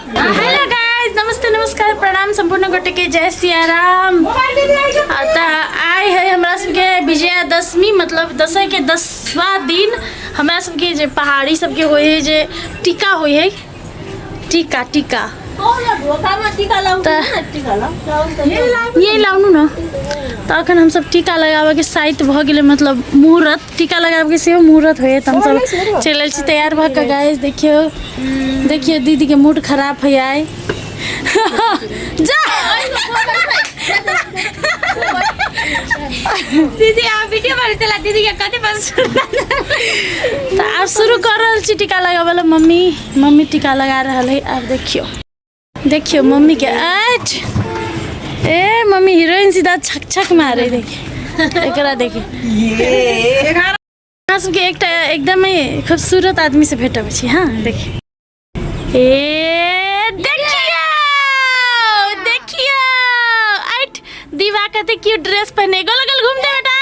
hello guys नमस्ते नमस्कार प्रणाम संपूर्ण गोटे के जय सिया राम अतः आए है हमरा सबके विजयादशमी मतलब दसई के दसवा दिन हमरा सबके जे पहाड़ी सबके होय है जे टीका होय है टीका टीका ये लाउनु न त अखन हमसब टीका लगाबे के साइत भ गेलै मतलब मुहूर्त टीका लगाबके सेहो मुहूर्त होइए तऽ हमसभ चलि आयल छी तैयार भऽ कऽ गाय देखियौ देखियौ दीदीके मूड खराब होइए जा दीदी अहाँ वीडियो पर चला दीदी के कथी पर तऽ आब शुरू कर रहल छी टीका लगाबऽ लए मम्मी मम्मी टीका लगा रहल है आब देखियौ देखियो मम्मी के आज ए मम्मी हीरोइन सीधा छक छक मारे देखिए एकरा देखिए अहाँ सबके एकटा एकदमै खूबसूरत आदमी से भेटब छी हाँ देखिए ए देखियो देखियो आइट दीवा कते क्यूट ड्रेस पहने गोल गोल घूम दे बेटा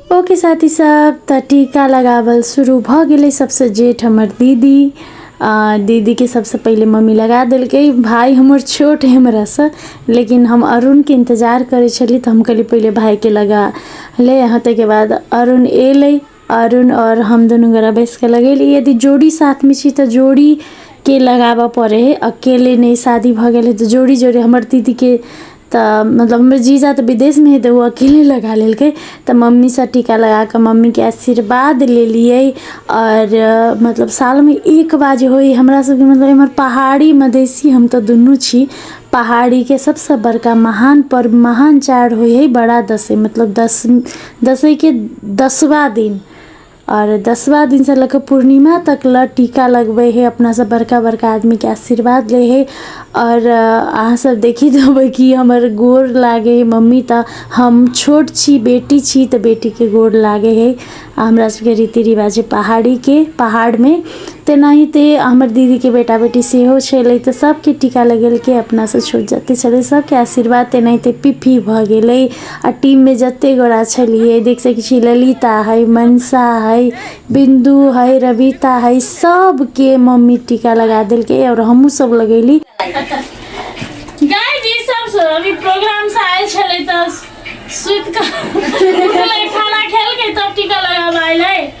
ओके साथी सब त टीका लगावल शुरू भ गेलै सबसे जेठ हमर दीदी आ दीदी के सबसे पहिले मम्मी लगा देलकै भाई हमर छोट है हमरा से लेकिन हम अरुण के इंतजार करे छली त हम कहली पहिले भाई के लगा ले यहाँ तक के बाद अरुण एलै अरुण और हम दोनों गोरा बैस के लगेली यदि जोड़ी साथ में छी त जोड़ी के लगाबऽ पड़े है अकेले नहीं शादी भ गेल है तो जोड़ी जोड़ी हमर दीदी के तऽ मतलब हमर जीजा तऽ विदेशमे हइ तऽ ओ अकेले लगा लेलकै तऽ मम्मीसँ टीका लगाकऽ मम्मीके आशीर्वाद लेलिए आओर मतलब सालमे एक बार जे होइ हमरासबके मतलब एम्हर पहाड़ी मधेसी हम तऽ दुनू छी पहाड़ीके सबसँ बड़का महान पर्व महान चाड होइ हइ बड़ा दसैँ मतलब दस दसैँके दसवा दिन आओर दसवा दिनसँ लऽ कऽ पूर्णिमा तक लए टीका लगबै हइ अपना सब बड़का बड़का आदमीके आशीर्वाद लै हइ आओर अहाँ सब देखि जेबै कि हमर गोर लागै हइ मम्मी तऽ हम छोट छी बेटी छी तऽ बेटीके गोर लागै हइ आओर हमरा सबके रीति रिवाज छै पहाड़ीके पहाड़मे तेनाहिते हमर दीदीके बेटा बेटी सेहो छलै तऽ सबके टीका लगेलकै अपनासँ छोट जते छलै सबके आशीर्वाद तेनाहिते पिपही भऽ गेलै आ टीम में जते गोरा छलिए देख सके छी ललिता है मनसा है बिंदु है रविता है सब के मम्मी टीका लगा दिल के और हमू सब लगेली गाय जी सबसँ अभी प्रोग्रामसँ आयल छलै तऽ सुति कऽ उठलै, खाना खेलकै तब टीका लगाबऽ आयल है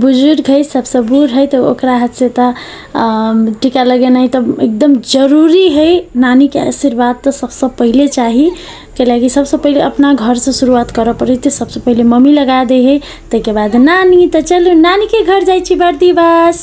बुजुर्ग हइ सबसँ बूढ़ हइ तऽ ओकरा हाथसँ तऽ टीका लगेनाइ तऽ एकदम जरूरी हइ नानीके आशीर्वाद तऽ सबसँ पहिले चाही कैलाकि सबसँ पहिले अपना घरसँ शुरुआत करऽ पड़ै छै सबसँ पहिले मम्मी लगा दै हइ ताहिके बाद नानी तऽ चलू नानीके घर जाइ छी बर्दी बास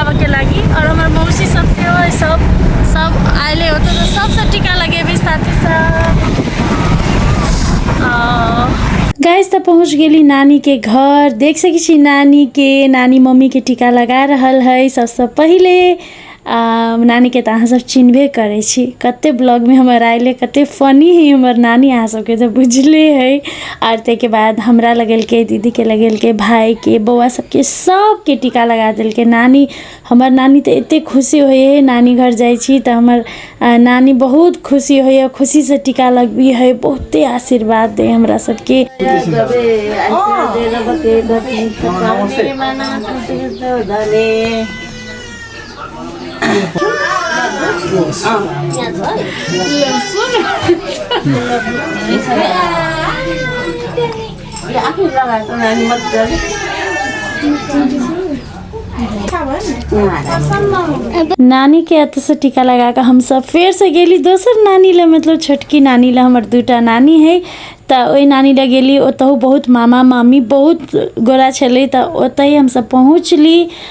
आबऽ के लागी और हमर मौसी सब के ओए सब सब आइले होते तो सबसे टीका लगेबी साथी सब आ, गाइस त पहुँच गेली नानी के घर देख सकै छी नानी के नानी मम्मी के टीका लगा रहल है सबसँ पहिले आ, नानी के त अहाँ सब चिन्हबे करै छी कते ब्लॉग में हमर आइले कते फनी है हमर नानी अहाँ सबके त बुझले है आर ताहिके बाद हमरा लगेलकै दीदीके लगेलकै भायके बौआ सभके सभके टीका लगा देलकै नानी हमर नानी तऽ एतेक खुशी होइए नानी घर जाइ छी तऽ हमर आ, नानी बहुत खुशी होइए खुशीसँ टीका लगबी है बहुते आशीर्वाद दै है हमरा सभके नमस्ते नानी के अत से टीका लगा के हम सब फेर से गेली दोसर नानी ले मतलब छोटकी नानी ले हमर दूटा नानी है तऽ ओहि नानी ले गेली ओतहु बहुत मामा मामी बहुत गोरा छलै तऽ ओतहि हमसब पहुँचली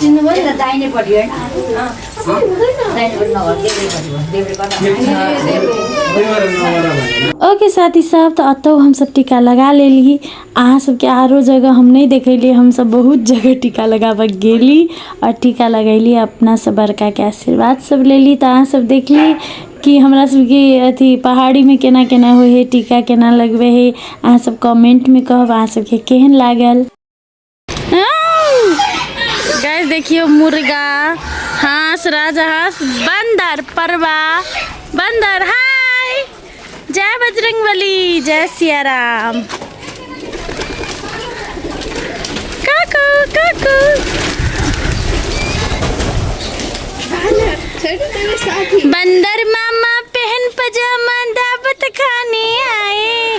चिन्नु पनि त दाहिनेपट्टि होइन ओके साथी सब तो अतो हम सब टीका लगा ले ली अहाँ सबके आरो जगह हम नहीं देखली हम सब बहुत जगह टीका लगाबे गेली और टीका लगैली अपना सब बड़का के आशीर्वाद सब ले ली तो अहाँ सब देखली कि हमरा सबके अथी पहाड़ी में केना केना हो है टीका केना लगबे है अहाँ सब कमेंट में कहब अहाँ सबके केहन लागल गैस देखियो मुर्गा हाँस राजा हाँस बंदर परवा बंदर हाय जय बजरंग बली जय सिया राम काकू काकू बंदर मामा पहन पजामा दावत खाने आए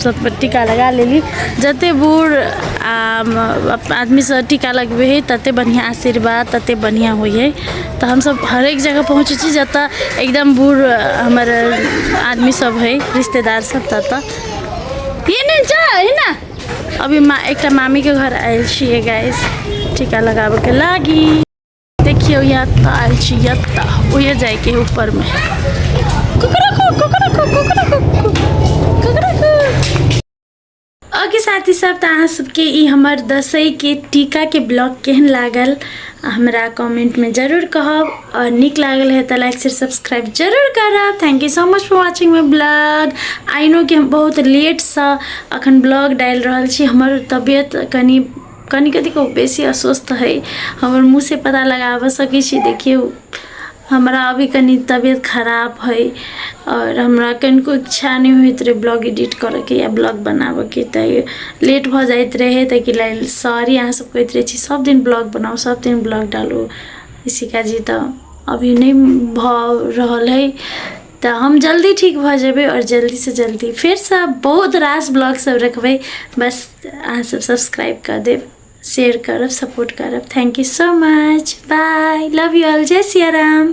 सभपर टीका लगा लेली जतेक बूढ़ आ आदमीसँ टीका लगबै हइ ततेक बढ़िआँ आशीर्वाद ततेक बढ़िआँ होइ हइ तऽ हमसभ हरेक जगह पहुँचै छी जतय एकदम बूढ़ हमर आदमीसभ हइ रिश्तेदारसभ ततय ई नहि जा हइ ने अभी मा एकटा मामीके घर आयल छियै गैस टीका लगाबयके लागी देखिए यहाँ ताल छी यत्ता उहे जाए के ऊपर में कुकरा को कुकरा को कुकरा को कुकरा को ओके साथी सब तो अहाँ सबके ई हमर दसई के टीका के ब्लॉग केहन लागल हमरा कमेंट में जरूर कहब और निक लागल है तो लाइक शेयर सब्सक्राइब जरूर करब thank you so much for watching my blog I know कि हम बहुत लेट से अखन ब्लॉग डाल रहल छी हमर तबियत कनि कनि कतिको बेसी अस्वस्थ है हमर मुँह से पता लगाबऽ सकै छी देखियौ हमरा अभी कनि तबियत खराब है आओर हमरा कनिको इच्छा नहि होइत रहै ब्लॉग एडिट करऽके या ब्लॉग बनाबऽके तऽ लेट भऽ जाइत रहै ताहिके लेल सॉरी अहाँ सब कहैत रहै छी सब दिन ब्लॉग बनाउ सब दिन ब्लॉग डालू इसी का जी तऽ अभी नहि भऽ रहल है तऽ हम जल्दी ठीक भऽ जेबै आओर जल्दीसँ जल्दी फेरसँ बहुत रास ब्लॉगसभ रखबै बस अहाँसभ सब्सक्राइब कऽ देब शेयर करब सपोर्ट करब thank you so much bye love you all जय सिया राम